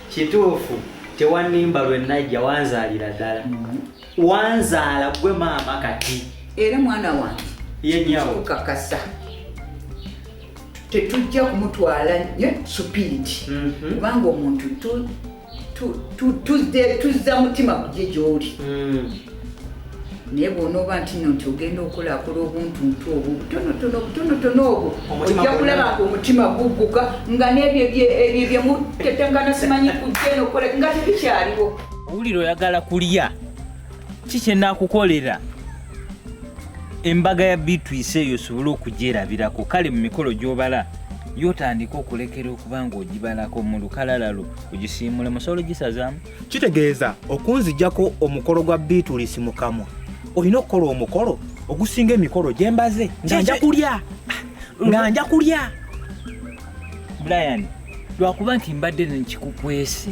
kituufu tewanimba lwenajja wanzaalira ddala mm-hmm. wanzaala gwe maama kati era mwana wange yenyawokakasa tetujja kumutwala nyo supiidi mm-hmm. kubanga omuntu tuzza mutima kugye gyoli mm. naye bwonooba nti no nti ogenda okulakola obuntuntu obwo obutonotono obutonotono obwo ojja kulaba nga omutima gugguka nga n'ebyo ebyo byemutetengana simanyi kujjeno okukola nga tebikyaliwo owulira oyagala kulya ki kyenakukolera embaga ya bitwise eyo osobole okugyerabirako kale mu mikolo gy'obala yotandika okulekera okuba nga ogibalako mu lukalala lwo ogisiimule musobola ogisazaamu kitegeeza okunzijako omukolo gwa biitulisi mu kamwa olina okukola omukolo ogusinga emikolo gye mbaze nga nja kulya nga nja kulya brian lwakuba nti mbadde nkikukwese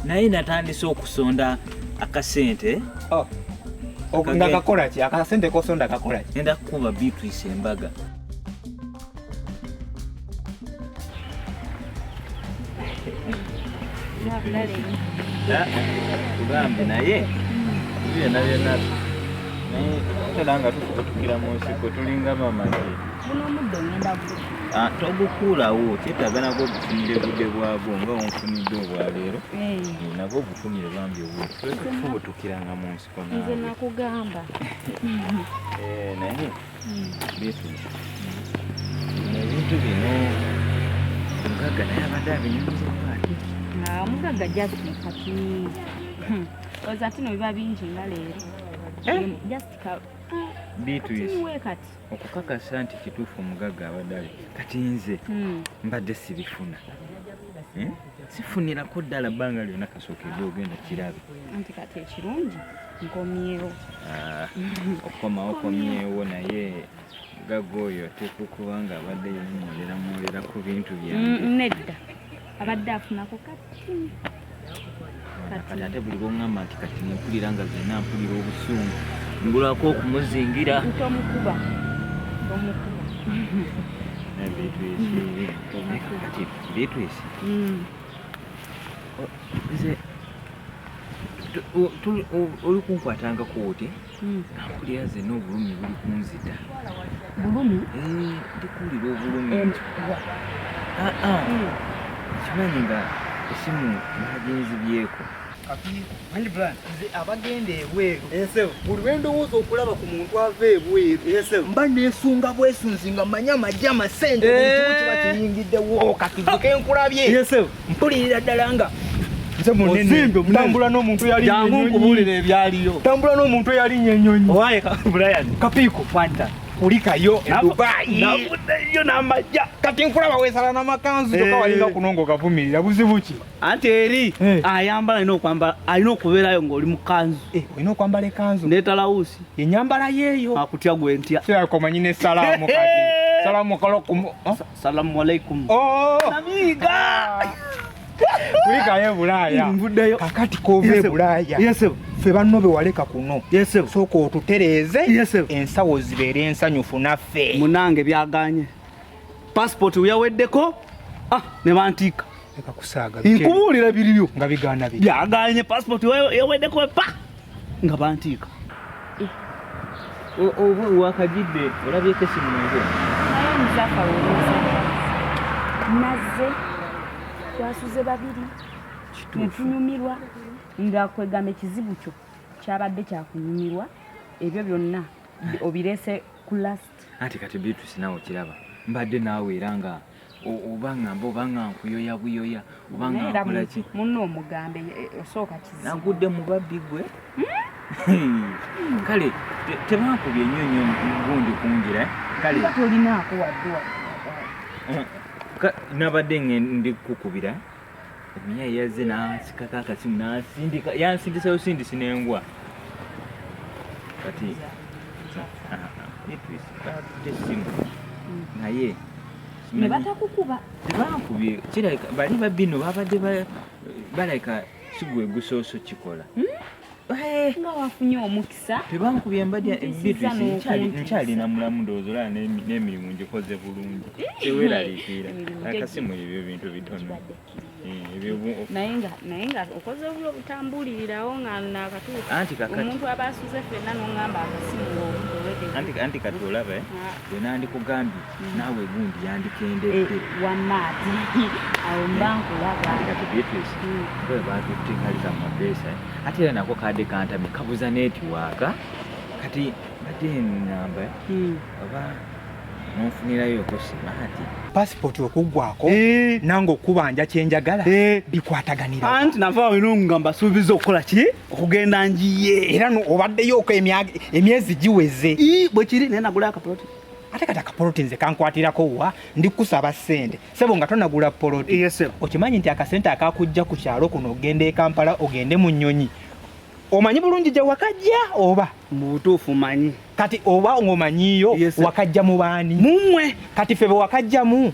naye natandise okusonda akasente oh. nga kakolaki akasente kosonda kakolaki enda kukuba biitulisi embaga tugambe naye byona byona naye tola nga tukutukira mu nsiko tulinga mamaki ah, togukuulawo kyetaaga nagwo ogufunire budde bwagwo nga onfunidde obwaleero eh. Eh, nagwo ogufunire bambi obutufubutukiranga mu nsiko nze nakugamba eh, naye beefuula ebintu bino omugagga naye abadde abinyumizamu ati omugagga just kati hmm. oza tino biba bingi nga leero eh? just bituyise okukakasa nti kituufu omugagga abadde ali kati nze hmm. mbadde sibifuna hmm? sifunirako ddala bbanga lyona kasooka ebyo ogenda kirabe anti kati ekirungi nkomyewo ah, okukomawo okomyewo naye gaga oyo ateekwa okuba nga abadde yemwolera mwolera ku bintu byange mm, nedda abadde afunako kati kati ate buli lwongamba nti kati nempulira nga zena mpulira obusungu ngulako okumuzingira ntomukuba omukuba bitwisi mm. nze oli kunkwatangako oti mpulira hmm. zenna obulumi buli kunzita bulumi eh, ndikuwulira obulumi ah, ah. hmm. kimanyi nga esimu naginzibyeko abagenda ebweru buli lwendowooza okulaba ku muntu ava ebweru mba nesunga bwesunzi nga manya amajja amasente kiba kiyingiddewo kativuke nkulabye mpulirira ddala nga nze munene tambula n'omuntu yalinkubuulira ebyaliyo tambula n'omuntu eyalinya ennyonyi owaye brian kapiiko fanta kulikayo edubayiyo namajja kati nkulaba wesala namakanzu kyoka eh. walinga kuno nga ogavumirira buzibu ki anti eri eh. ayambala alina okwambala alina okubeerayo ngaoli mukanzu eh, olina okwambala ekanzu netalawusi enyambala yeeyo akutya gwentya komanyi nesalaamu kati salaamu kalo Salamu alaikum. Oh! Namiga! Kulikayo Bulaaya. Mvuddeyo. Kakati kove Bulaaya. Yes, sir. Ffe banno be waleka kuno. Yes, sir. Sooka otutereeze. Yes, sir. Ensawo zibeere ensanyufu naffe. Munange byaganye. Passport uyaweddeko. Ah, ne bantiika. Leka kusaaga. Nkubuulira biriyo. Nga bigaana biri. Byaganye passport uyaweddeko pa. nga bantiika eh. oba wakajidde olabyeko esimu nze nazze twasuze babiri netunyumirwa nga kwegamba ekizibu kyo kyabadde kyakunyumirwa ebyo byonna obirese ku last anti kati beatrice nawe okiraba mbadde naawe era nga oba ngamba oba nga nkuyoya buyoya oba nga nkolaki munno omugambe eh, eh, osooka kizibu nagudde mu babbi gwe hmm? kale tebankubye nnyo nnyo gundi kungira eh? kale tolinaako wadde nabadde ndi kukubira Miya yazze n'asikako akasimu n'asindika yansindisa busindisi n'engwa kati essimu naye ne batakukuba tebankubye kirabika bali babbi no babadde balabika sigwe gusoose okukikola hmm? Eh. nga wafunye omukisa tebankubye mbadya nkyalina mulamu ndowooza olaba n'emirimu ngikoze bulungi teweraliikirira akasimu ebyo bintu bitono eh, naye nga okoze obula obutambulirirawo nga nakatuuka omuntu aba asuze fenna nongamba akasimu anti kati olaba wenandikugambye eh? ah. naawe gundi yandikendedde eh, wamaati awo mba eh, nkulabaatbeatrice hmm. bwe batutte kali ka mapeesa eh. ate era nako kaadde kantami kabuza netiwaaka kati badde namba hmm. oba nonfunirayo ko simaati pasipooti okuggwako nange okubanja kyenjagala bikwataganira anti nava wino nga mbasuubiza okukola ki okugenda njiye era obaddeyo oko emyezi giweze bwekiri naye nagula akapoloti ate kati akapoloti nze kankwatirako wa ndi kukusaba sente sebo nga tonagula poloti yes, okimanyi nti akasente akakujja ku kyalo kuno ogenda ekampala ogende mu nyonyi omanyi bulungi gye wakajja oba mubutuufu manyi kati oba ngaomanyiyo yes, wakajja mu baani mumwe kati febe wakajjamu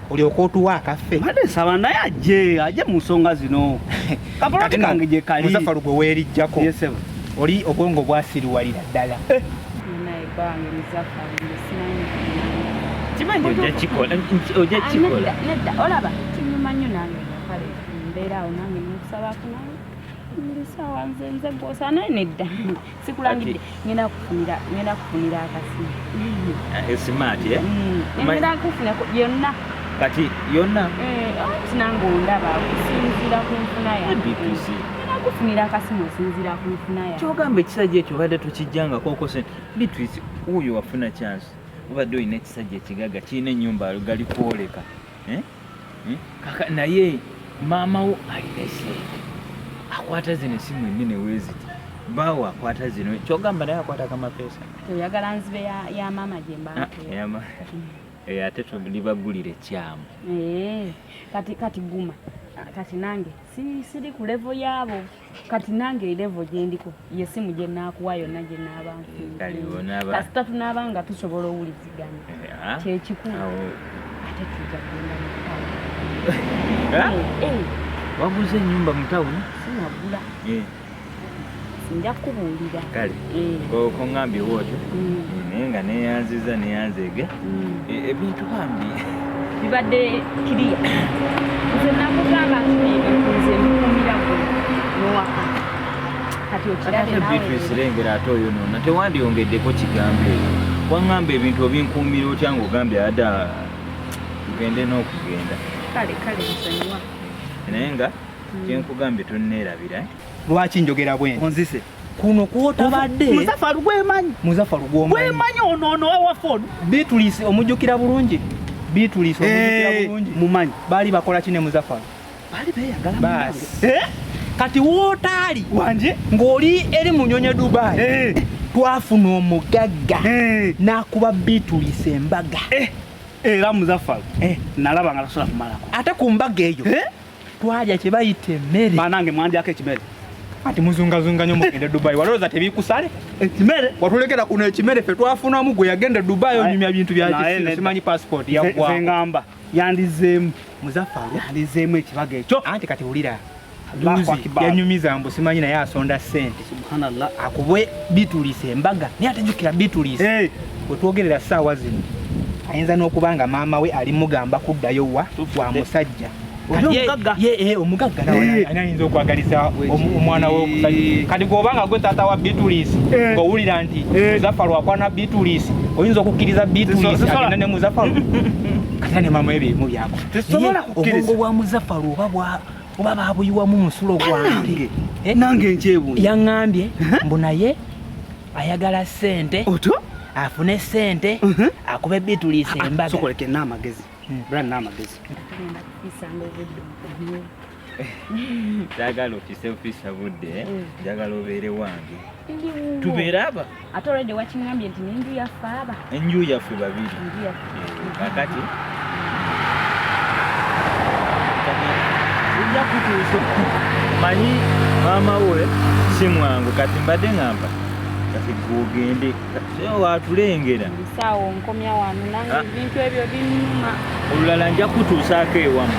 olyoka otuwa akaffe mbadde nsaba naye ajje ajje mu nsonga zino kapoloti kange gye kali muzafalu gwe weerijjako oli obwongo bwasiriwalira ddala eh. sikulangidde ngenda kufunira ngenda kufunira akasimu esimaati eh, eh, mm. ngenda kufuna yonna kati yonna eh, tinange ondaba okusinziira ku nfuna yange kufunira akasimu osinziira ku nfuna yange kyogamba ekisajja ekyo obadde tokijjangako okose bitwisi wuuyo wafuna chance obadde olina ekisajja ekigaga kirina ennyumba galikwoleka eh? eh? kaka naye maama wo alina esente akwata zino esimu enene weziti bawo akwata zino kyogamba naye akwata kamapeesa oyagala nzibe ya maama gyembaeya ah, eh, ate tulibagulira ekyamu kati kati guma kati nange siri ku levo yaabo kati nange erevo gyendiko yesimu gyenaakuwa yonna gyenaabankasita eh, tunaaba nga tusobola owuliziganya eh, ah. kyekikulu ate tuja kugenda eh, waguze enyumba mutawuni sinagula nja kukubuulira kongambye wootyo naye nga neyanziza neyanzeege ebintu bambi bibadde kiriya nze nakugamba nti ebintu nze mbikumira gwe nowaka kati okirabe naweerengera ate oyo nona tewandyongeddeko kigambo ebyo wangamba ebintu obinkuumira otya ngaogambye ada tugende n'okugenda kale kale nsonyiwa naye nga kyenkugambye tonneerabira lwaki njogera bwenti onzise kuno kwotabadde muzafaru gwemanyi muzafaru gwomanyi gwemanyi ono ono wawafon bitulise omujukira bulungi bitulise omujukira eh, bulungi mumanyi bali bakola kine muzafaru bali beyagala basi eh kati wotali wanje ngoli eri munyonye dubai eh twafuna omugagga eh. nakuba bitulise embaga eh era muzafaru eh nalaba nga tasola kumalako ate ku mbaga eyo eh twalya kye bayita emmere banange mwandyako ekimere ati muzungazunga nyo mugende dubai walowooza tebikusale ekimere watulekera kuno ekimere fe twafunamu gwe yagenda dubai onyumya bintu byakisimanyi passport yagwangamba yandizeemu muzaffa yandizeemu ekibaga ekyo anti kati wulira yanyumiza mbu simanyi naye asonda sente Subhanallah akubwe bitulise embaga naye atajukira bitulise hey. wetwogerera saawa zino ayinza n'okuba nga maama we ali mugamba kuddayo wa wa musajja eh, omugagga eh. anayinza okwagaliza omwana we omusajja eh. kati gwoba nga gwe taata wa bitulisi ng'owulira nti muzafa lwakwana bitulisi oyinza okukkiriza bitulisi agenda ne muzafa kati ne maama we byebimu byako obwongo bwa muzafa lwoba oba babuyiwamu musulo gwange eh? nange nkyebu yaŋŋambye uh-huh. mbu naye ayagala sente oto afune sente uh-huh. akube bitulisa ah, ah, embaga sokoleke n'amagezi hmm. bra n'amagezi njagala ofise ofisa budde eh? hmm. njagala obeere wange tubeere aba ate already wakingambye nti nenju yaffe aba enju yaffe babiri kakati ojja kutuusa manyi maama we si mwangu kati mbadde ngamba kati gwogende watulengera sawo nkomya wano nange ah. ebintu ebyo binuma olulala nja kutuusaako ewamu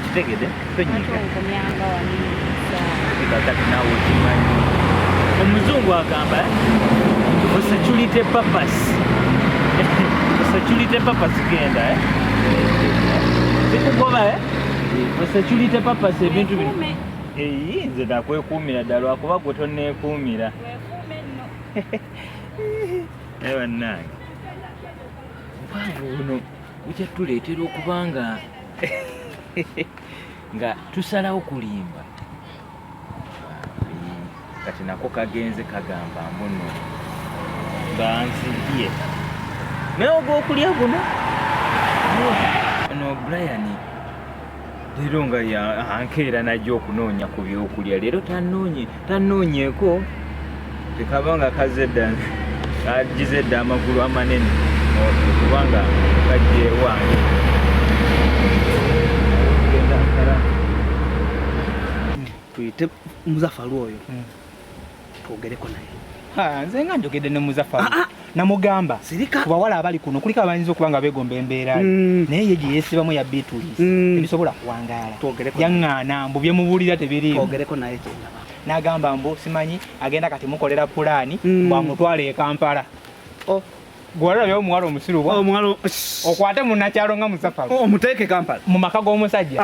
kitegede omuzungu agamba for security purpose for security purpose genda eh? zikugoba eh? for security purpose ebintu bino eyi nze nakwekuumira ddala lwakuba gwe tonekuumira naye bannange obwange buno bujja tuleetera okubanga nga tusalawo kulimba kati nako kagenze kagamba mbuno banzibye naye ogwokulya guno no brian leero nga ankeera najja okunoonya ku byokulya leero tanoonye tanoonyeko tekaba nga kazze dda kagize dda amagulu amanene kubanga kajjewange tuyite muzafalu oyo hmm. twogereko naye nze nga njogedde ne muzafalu ah, ah. namugamba ku bawala abali kuno kuliko abayinza okuba nga begomba embeera mm. naye ye gye yeesibamu ya beatulis mm. tebisobola kuwangaala yaŋŋaana mbu byemubuulira tebiriimu n'agamba mbu simanyi agenda kati mukolera pulaani mm. bwamutwala e kampala oh. gwalabyewo omuwala omusiru oh, omuwala okwate munakyalo nga musafalo oh, omuteeke kampala mu maka g'omusajja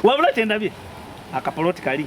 wabula kyendabye akapoloti kali